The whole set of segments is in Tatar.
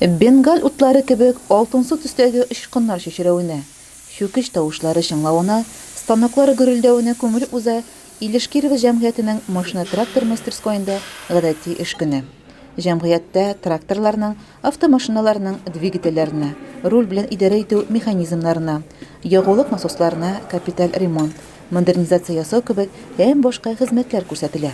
Бенгаль утлары кебек алтынсу төстәге очкыннар чәчрәвенә, чүкеч тавышлары чыңлавына, станоклар гөрелдәвенә күмелеп уза Илеш Кирова җәмгыятенең машина-трактор мастерскоенда гадәти эш көне. Җәмгыятьтә тракторларның, автомашиналарның двигательләренә, руль белән идарә итү механизмнарына, ягулык насосларына капиталь ремонт, модернизация ясау кебек һәм башка хезмәтләр күрсәтелә.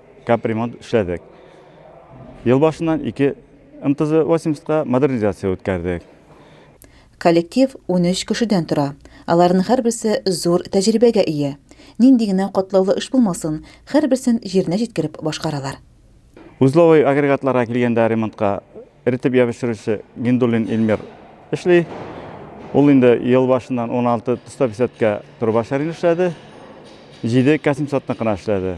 Капремонт эшләдек. Ел башыннан ике МТЗ-80 ка модернизация үткәрдек. Коллектив унөч кешедән тора. Аларның һәрберсе зур тәҗрибәгә ия. Нинди генә катлаулы эш булмасын, һәрберсен җиренә җиткереп башкаралар. Узловой агрегатларга килгәндә ремонтка эретеп ябештерүче Гиндуллин Илмир эшли. Ул инде ел башыннан уналты тостописәткә трубачарин эшләде, җиде кәсимсатныкына эшләде.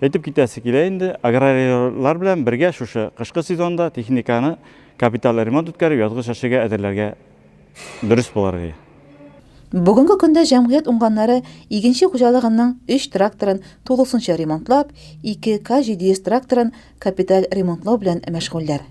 Әйтеп китәсе килә инде, аграрийлар белән бергә шушы кышкы сезонда техниканы капиталь ремонт үткәреп, язгы чәчүгә әзерләргә дөрес булыр иде. Бүгенге көндә җәмгыять уңганнары игенче хуҗалыгының өч тракторын тулысынча ремонтлап, ике К-700 тракторын капиталь ремонтлау белән мәшгульләр.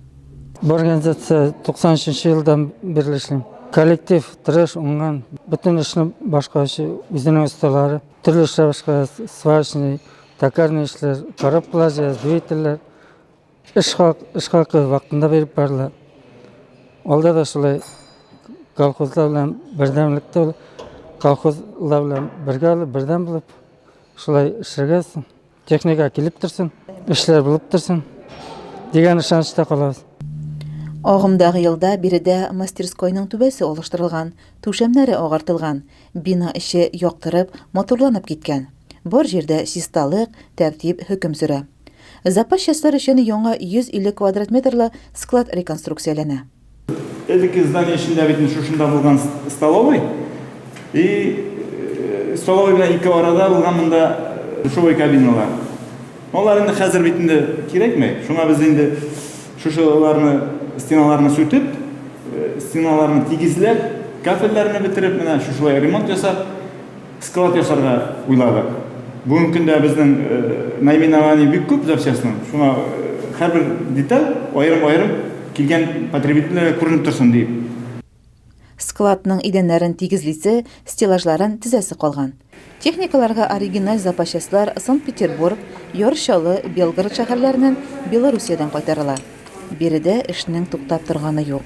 Бу организация 93 елдан бирле эшлим. Коллектив тырыш, уңган. Бөтен эшне башкаручы үзенең осталары. Төрле шабашка, сварочный, токарный эшләр, коробкалар, двигательләр. Эш хак, эш хакы вакытында биреп барыла. Алда да шулай колхозлар белән бердәмлектә колхозлар белән бергә алып, бердәм булып шулай эшләргә Техника килеп торсын, эшләр булып торсын дигән ышанычта калабыз. Агымдагы елда биредә мастерскойның түбәсе алыштырылган, түшәмнәре агартылган, бина эче яктырып, матурланып киткән. Бар җирдә чисталык, тәртип хөкем сөрә. Запас частьләр өчен яңа 150 квадрат метрлы склад реконструкцияләнә. Элекке здание эчендә бит шушында булган столовый. И э, столовый белән ике арада булган монда э, душевой кабиналар. Алар инде хәзер бит инде кирәкми. Шуңа без инде шушыларны стеналарны сүтеп, э, стеналарны тигезләп, кафельләрне бетереп, менә шушылай ремонт ясап, Склад ясарга уйладык. Бүгенге көндә безнең наименование бик күп запчастьның. Шуңа һәрбер деталь аерым-аерым килгән потребительләргә күренеп торсын диеп. Складның идәннәрен тигезлисе, стеллажларын төзәсе калган. Техникаларга оригиналь запачастлар Санкт-Петербург, Яр Чаллы, Белгород шәһәрләреннән, Белоруссиядән кайтарыла. Биредә эшнең туктап торганы юк.